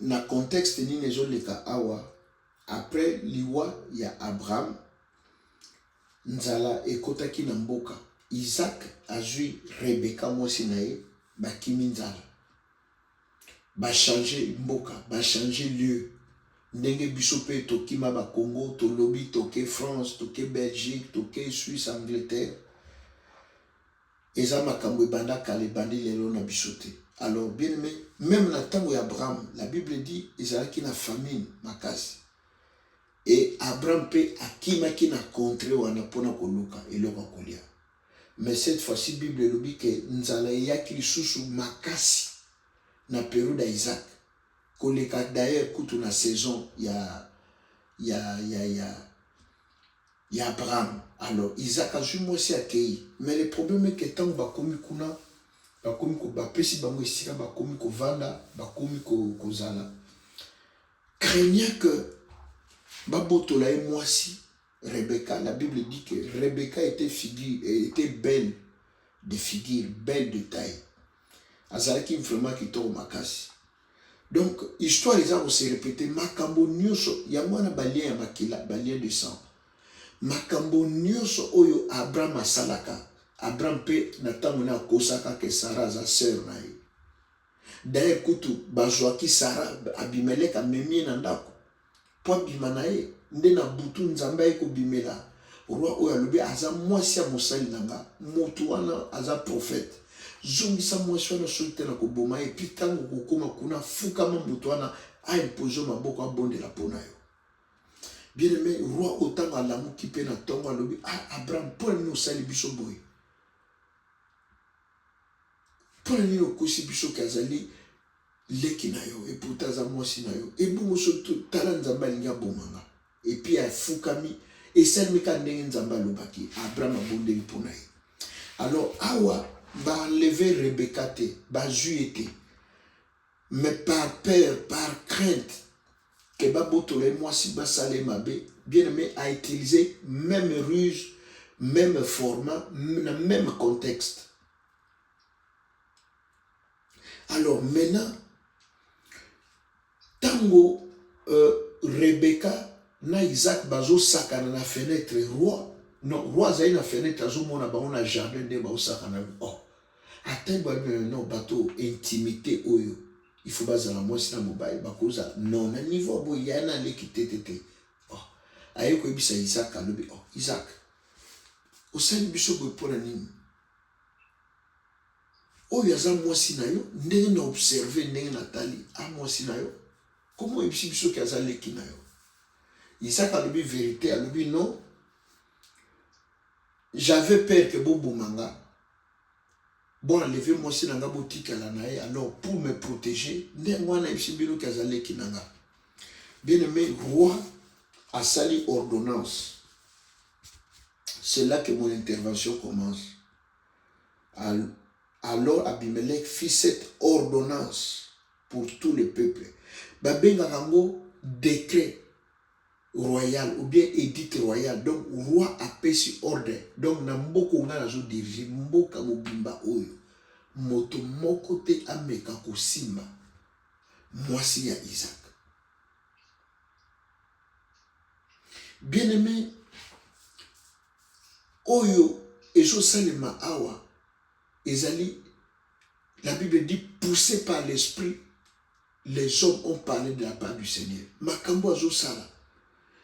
na contexte nini ezoleka awa après liwa ya Abraham nzala ekotaki na mboka Isaac azui Rebecca mwasi na ye bakimi nzala bachange mboka bachange lieu ndenge biso mpe tokima bakongo tolobi toke France toke Belgique toke Suisse Angleterre Eza makambu ebanda kala ebandi lelo na biso te alors bien aime meme na tango ya Abraham la bible dit ezalaki na famine makasi et Abraham pe akimaki na contre wana pona koluka eloko ya kolia mais cette fois ci bible elobi ke nzala eyaki lisusu makasi na periode ya Isaac koleka d'ailleurs kutu na saison ya ya ya ya ya Abraham alors Isaac azui mwasi akeyi mais le problème est que tango bakomi kuna bakomi ko bapesi bango esika bakomi kovanda bakomi ko, kozala craignant que babotola ye mwasi Rebecca la Bible dit que Rebecca était figure était belle de figure belle de taille azalaki vraiment kitoko makasi donc histoire eza kose repete makambo nyonso yango wana balien ya makila balien de sang makambo nyonso oyo abraham asalaka abraham mpe na ntango na akosaka ke sara aza sœur na ye daye kutu bazwaki sara abimelek amemi ye na ndako mpo abima na ye. Nde na butu, Nzambe ayei kobimela roi oyo, alobi, Aza mwasi ya mosali na ngai, moto wana aza profete. Zongisa mwasi wana, soki te nakoboma ye. Mpe ntango okokoma kuna, fukama moto wana a imposer yo maboko, abondela mpo na yo. Bien aime, roi oyo ntango alamuki mpe na ntongo alobi, Ah, Abraham, mpo na nini osali biso boye? Mpo na nini okosi biso ke azali leki na yo et pourtant aza mwasi na yo ebongo soki tala nzambe alingi aboma nga epuis afukami esalemi kaka ndenge nzambe alobaki abraham abondeli mpo na ye alors awa baenleve rebeka te bazwi ye te mais par peur par crainte ke babotola ye mwasi basala ye mabe bien aime autilize même ruse même format na même contexte Alors maintenant, tango euh, Rebecca na Isaac bazosakana na fenêtre roi non roi azali na fenêtre azomona bango na jardin nde baosakana oh atangi babimela non bato intimité oyo il faut bazala mwasi na mobali bakoza non na niveau ya boye yaya na aleki te te te oh aye koyebisa Isaac alobi oh Isaac osali biso boye mpo na nini Oyo aza mwasi na yo ndenge na observe ndenge na tali a mwasi na yo koma oyebisi biso ke aza leki na yo isaka alobi verite alobi non j'avais peur ke boboma nga bo enleve mwasi na nga botikala na ye alors pour me protéger nde yango wana yebisi bino ke aza leki na nga bien aimé roi asali ordonnance c'est là que mon intervention commence Alors Abimelec fit cette ordonnance pour tout le peuple. Babengaka yango decret royal ou bien edite royal. Donc roi apesi ordre. Donc na mboka nga nazo diriger mboka mobimba oyo moto moko te ameka kosimba mwasi ya Isaac. Bien-aimé, oyo ezo salema awa ezali la bible dit poussé par l'esprit les hommes ont parlé de la part du seigneur makambo azosala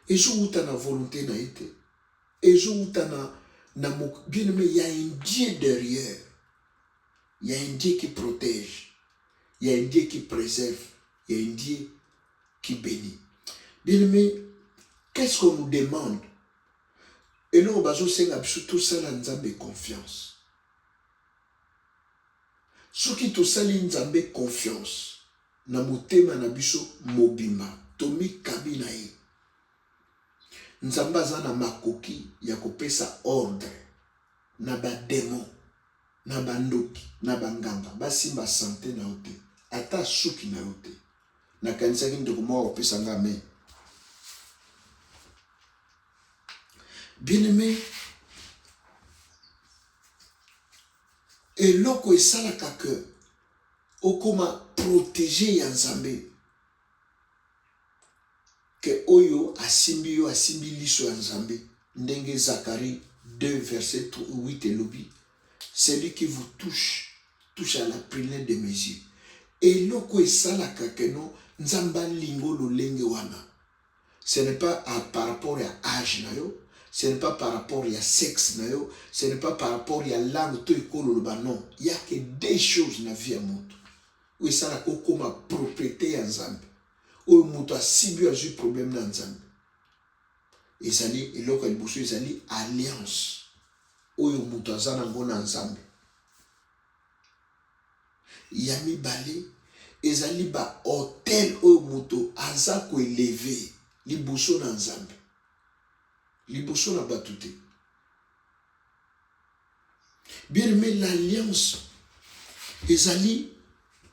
ezowuta na volonté na ye te ezowuta na na bien aimé ya indien derrière ya indien qui protège ya indien qui préserve ya indien qui bénit bien aimé qu'est ce qu'on nous demande Eloko bazo senga biso tosala Nzambe confiance. Soki tosali Nzambe confiance na motema na biso mobimba, tomikabi na ye, Nzambe aza na makoki ya kopesa ordre na ba demon na ba ndoki na ba nganga ba simba sante na yo te ata suki na yo te na kanisaki ndeko moko akopesa nga amen bien aime eloko esalaka que okoma protege ya nzambe que oyo asimbi yo asimbi liso ya Nzambe ndenge Zacharie 2 verset 8 elobi celui qui vous touche touche à la prunelle de mes yeux eloko esalaka keno Nzambe alingo lolenge wana ce n'est pas à, par rapport ya âge na yo ce n'est pas par rapport ya sexe na yo ce n'est pas par rapport ya langue to ekolo loba non il y a que deux choses na vie ya moto oyo esalaka okoma propriete ya Nzambe, oyo moto asibi oyo azwi problème na Nzambe. Ezali eloko ya liboso, ezali alliance oyo moto aza nango na Nzambe. Ya mibale ezali ba hotel oyo moto aza koeleve liboso na Nzambe, liboso na bato te. Bien aimé, l'alliance ezali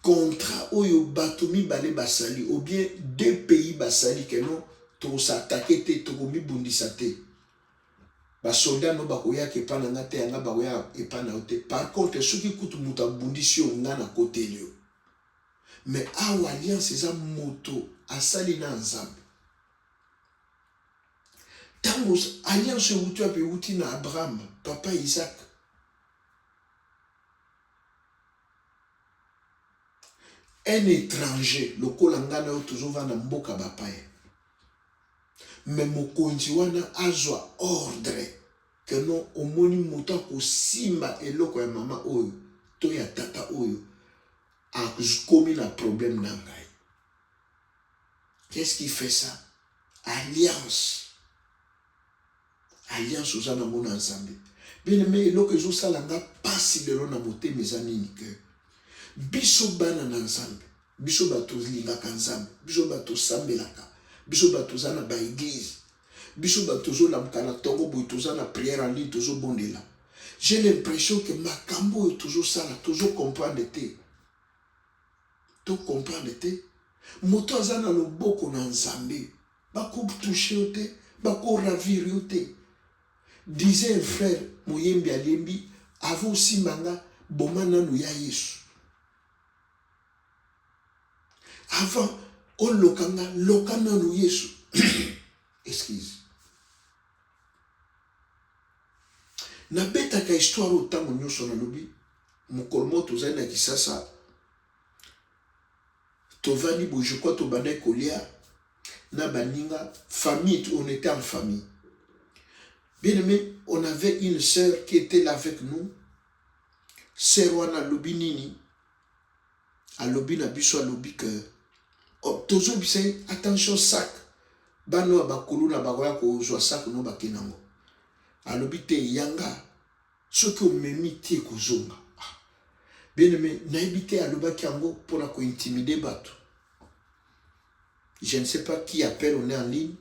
contrat oyo bato mibale basali ou bien deux pays basali que non tokosatake te tokomibundisa te basoldat no bakoyaka epai na nga te yanga bakoyaka epai na yo te par contre soki kutu moto abundisi yo nga nakoteli yo mais awa alliance eza moto asali na nzambe ntango alliance ewuti wapi ewuti na abraham papa isaac un étranger lokola ngai na yo tozovanda mboka bapaya me mokonzi wana azwa ordre ke no omoni moto akosimba eloko ya mama oyo to ya tata oyo akomi na problème na ngai Qu'est ce qui fait ça? Alliance. Alliance oza nango na Nzambe. Bien aimé, eloko ezosala nga pasi lelo na motema eza nini que biso bana na Nzambe, biso bato tolingaka Nzambe, biso bato tosambelaka, biso bato toza na ba eglise, biso bato tozolamuka na tongo boye toza na prière en ligne tozobondela. J'ai l'impression que makambo oyo tozosala tozo comprendre te. To comprendre te moto aza na loboko na Nzambe bako touche yo te bako ravir yo te disait un frère moyembi alembi avant osimba nga boma nanu ya Yesu avant oloka nga loka nanu Yesu excuse nabetaka histoire oyo ntango nyonso nalobi mokolo moko tozali na kisasa tovandi boye je crois tobandaki kolia na baninga famille on était en famille bien aimé on avait une sœur qui était là avec nous sœur wana alobi nini Alobi na biso alobi que oh, tozobisa ye attention sac bana oyo bakuluna bakoya kozwa sac no bake nango alobi te yanga soki omemi ti ekozonga ah. bien aime nayebi te alobaki yango mpo na kointimide bato je ne sais pas qui appelle on est en ligne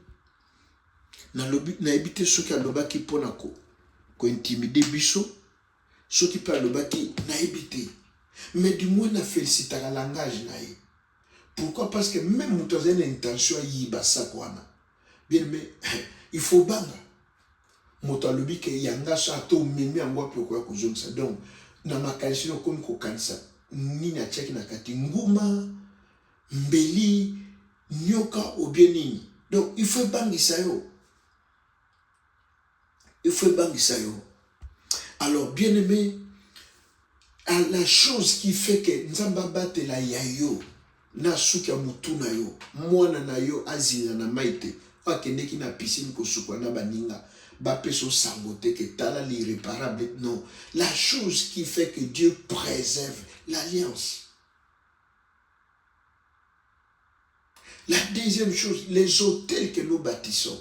nalobi nayebi te soki alobaki mpo na kointimide ko biso Soki pe alobaki nayebi te mais du moins na felicitaka langage na ye. Pourquoi parce que meme moto azali na intention ayiba sac wana bien aime il faut obanga moto alobi ke yanga sa to omemi yango wapi okoya kozongisa donc na makanisi no okomi kokanisa nini atiaki na kati nguma mbeli nyoka obie nini donc il faut ebangisa yo il faut ebangisa yo alors bien aimé à la chose qui fait que nzambe abatela ya yo na suki ya motu na yo mwana na yo azinda na mai te oyo akendeki na piscine kosukwa na baninga bapesa osango te ke tala l'irréparable non la chose qui fait que dieu préserve l'alliance La deuxième chose, les hôtels que nous bâtissons,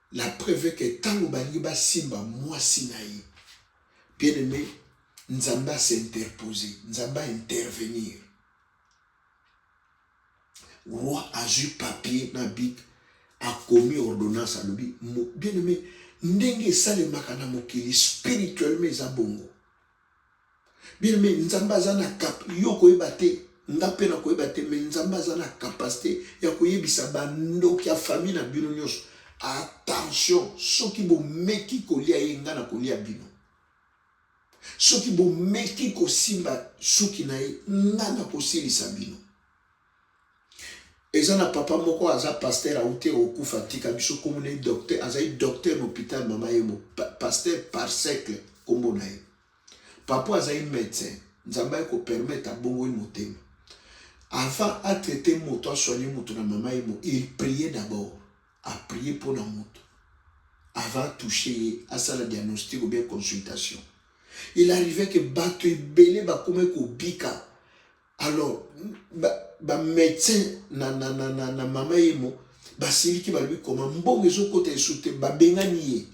La preuve que tango balingi basimba mwasi na ye, bien aime, Nzambe a s'interposer, Nzambe a intervenir. Roi azui papier na bic, akomi ordonnance, alobi bien aime, ndenge esalemaka na mokili spirituellement eza bongo. Bien aimé, Nzambe aza na cap, yo okoyeba te, nga pe nakoyeba te, mais Nzambe aza na capacite ya koyebisa ba ndoki ya famille na bino nionso, attention, soki bomeki kolia ye, nga nakolia bino. Soki bomeki kosimba suki na ye, nga nakosilisa bino. Eza na papa moko aza pasteur aute okufa atika biso kombo na ye docteur azali docteur na hopital mama ye mo pasteur par cercle kombo na ye papa azali medecin nzambe aye ko permettre abongoli motema avant a traiter moto a soigner moto na mama ye mo il prier d'abord a prier mpo na moto avant toucher ye asala diagnostic ou bien consultation il arrivait que bato ebele bakomaki kobika alors ba médecin na, na, na, na, na mama yemo basiliki balobi koma mbongo ezokota esu te babengani ye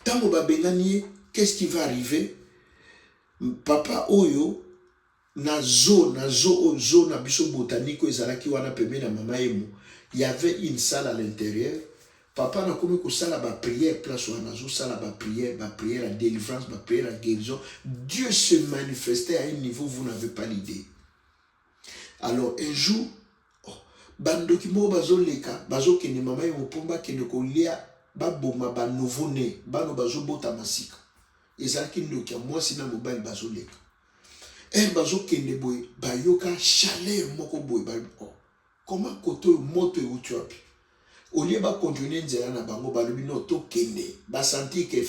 ntango babengani ye qu'est-ce qui va arriver papa oyo na zo na zo oyo zo na biso botanike oyo ezalaki wana pembeni ya mama yemo y avait une salle à l'intérieur Papa na komi kosala ba prière place wana nazo sala ba prière ba prière ya délivrance ba prière ya guérison Dieu se manifestait à un niveau vous n'avez pas l'idée alors un jour oh, bandoki moko bazoleka bazokende mama ye mopomba akende kolia baboma ba nouveau né bano bazobotama sika ezalaki ndoki ya mwasi na mobali bazoleka ere eh, bazokende boye bayoka chaleur moko boye oh, Koma kote oyo moto ewuti wapi. Au lieu ba continuer nzela na bango, balobi non tokende. Ba sentir que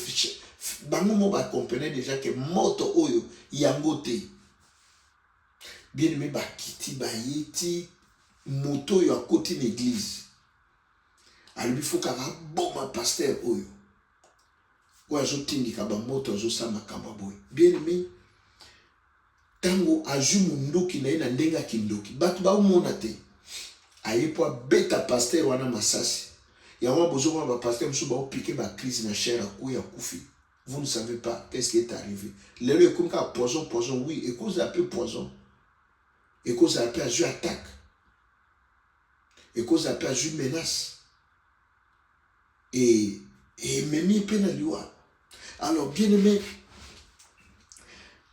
bango moko ba comprenait dejà que moto oyo yango te. Bien aime bakiti baye ti moto oyo akoti na eglise alobi faut kaka aboma pasteur oyo. oyo azotindika bamoto azosala makambo ya boye bien aime ntango azwi monduki na ye na ndenge ya kindoki bato baomona te aye mpo abeta pastere wana masasi yango wana bozomona bapastere mosusu baopike bacrise na chere akuya akufi vous ne savez pas qu'est-ce qui est arrivé lelo ekomi kaka poison poison oui ekozala mpe poison ekozala mpe azwi attaque Ekozala pe azui menace et ememi ye pe na liwa. Alors bien aime,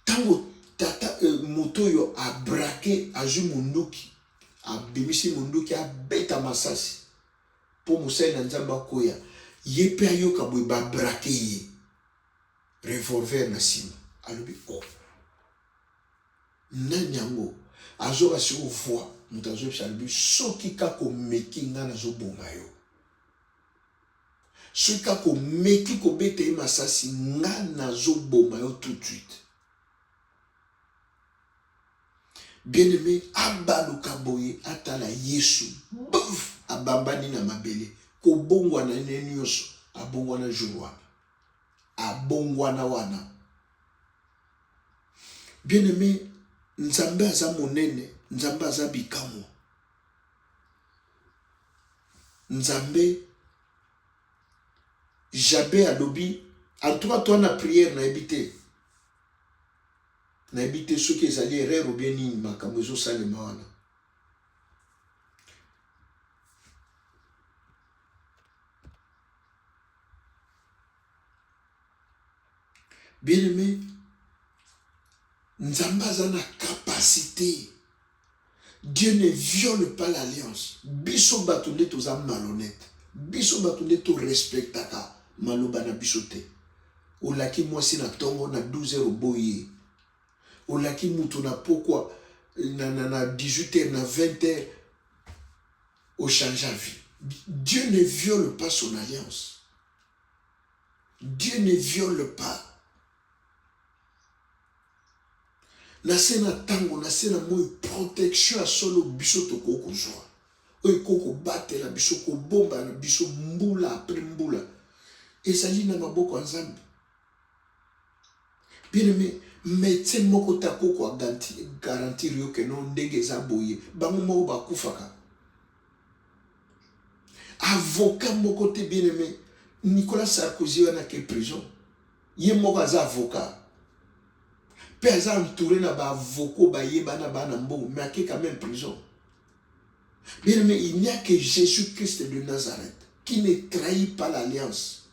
tango tata euh, moto oyo abrake azui munduki abimisi munduki abeta masasi mpo mosali na nzambe akoya ye mpe ayoka boye babrake ye revolver na nsima alobi o oh. Nani yango azoka siko voix mutu azoyebisa alobi soki kaka omeki nga nazoboma yo soki kaka omeki kobeta ye masasi nga nazoboma yo tout de suite bien aime abaluka boye atala yesu bof abambani na mabele kobongwana ne nyonso abongwana jour wana abongwana wana Bien aime, Nzambe aza monene, Nzambe aza bikamwa. Nzambe Jabe alobi en tout cas toi na prière nayebi te nayebi te soki ezali erreur ou bien nini makambo ezosalema wana Bien-aimé, Nzambe aza na capacité. Dieu ne viole pas l'alliance. Biso bato nde toza malhonnête. Biso bato nde to respectaka maloba na biso te. Olaki mwasi na tongo na 12 heures oboyi. Olaki mutu na pokwa na, na, na 18 heures na 20 heures au change vie. Dieu ne viole pas son alliance. Dieu ne viole pas. na se na ntango na se na moi protection ya solo biso tokoki kozwa oyo ekoki kobatela biso kobomba na biso mbula apres mbula ezali na maboko ya nzambe Bien aimé, medecin moko te akoko a garantir yo que non ndenge eza boye, bango moko bakufaka. Avocat moko te bien aimé, Nicolas Sarkozy wana ke prison, ye moko aza avocat. Pe aza entouré na ba avocats bayebana bana mbongo, mais ake quand même prison. Bien aimé, il n'y a que Jésus-Christ de Nazareth qui ne trahit pas l'alliance.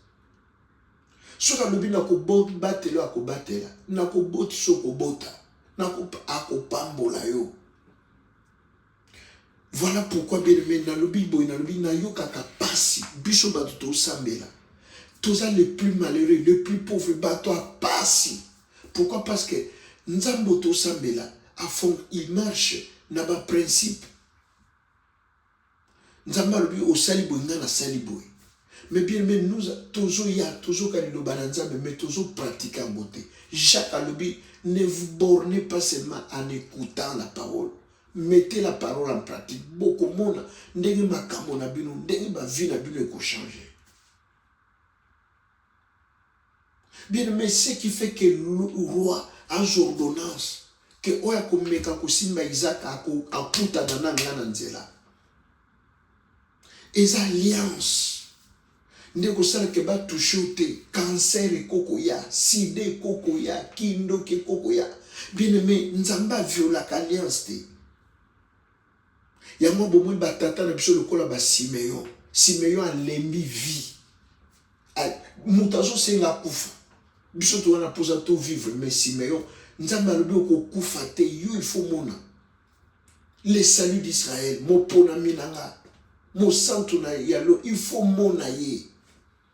soki alobi nakobatela yo akobatela nakobotisa okobota akopambola yo voilà pourquoi bien aimé nalobi boye nalobi nayokaka mpasi biso bato tosambela toza le plus malheureux le plus pauvre bato ya mpasi pourquoi parce que nzambe tosambela afond il marche na baprincipe nzambe alobi osali boye ngai nasali boye mais bien aime nous tozoya tozoka liloba na nzambe mais tozopraktike yango te jacques alobi ne vous bornez pas seulement en écoutant la parole mettez la parole en pratique bokomona ndenge makambo na bino ndenge bavi na bino ekochange Bien, mais ce qui fait que roi as ordonnance que oyo akomeka kosimba Isaac akutana na nga na nzela eza alliance nde kosalaka batouche yo te kanser ekokoya sida ekokoya kindoki ekokoya bien aime nzambe aviolaka alliance te Yango bomoni batata na biso lokola ba Simeon. Simeon alembi vie. Moto azosenga akufa. Biso to wana posa to vivre mais Simeon Nzambe alobi okokufa te yo il faut mona le salut d'Israël moponami na nga mosantu na yalo il faut mona ye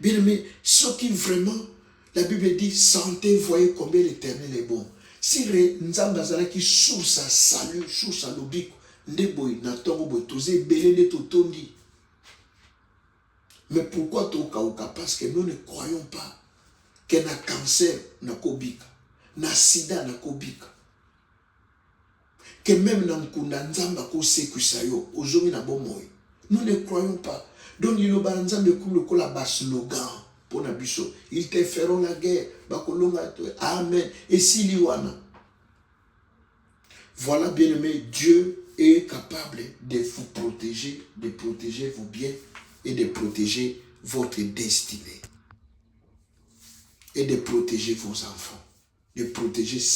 Bien aimé, soki vraiment la Bible dit sentez, voyez combien l'Eternel est bon. Si Nzambe azalaki source ya salut, source ya lobiko, nde boye na ntongo boye toza ebele nde totondi. Mais pourquoi tokauka? Parce que nous ne croyons pas que na cancer nakobika, na sida nakobika. que meme na nkunda Nzambe akosekwisa yo ozongi na bomoi. Nous ne croyons pas. Donc liloba na Nzambe ekomi lokola ba slogan mpo na biso. Ils te feront la guerre, bakolonga to. Amen. Esili wana. Voilà bien aimé, Dieu est capable de vous protéger, de protéger vos biens et de protéger votre destinée et de protéger vos enfants, de protéger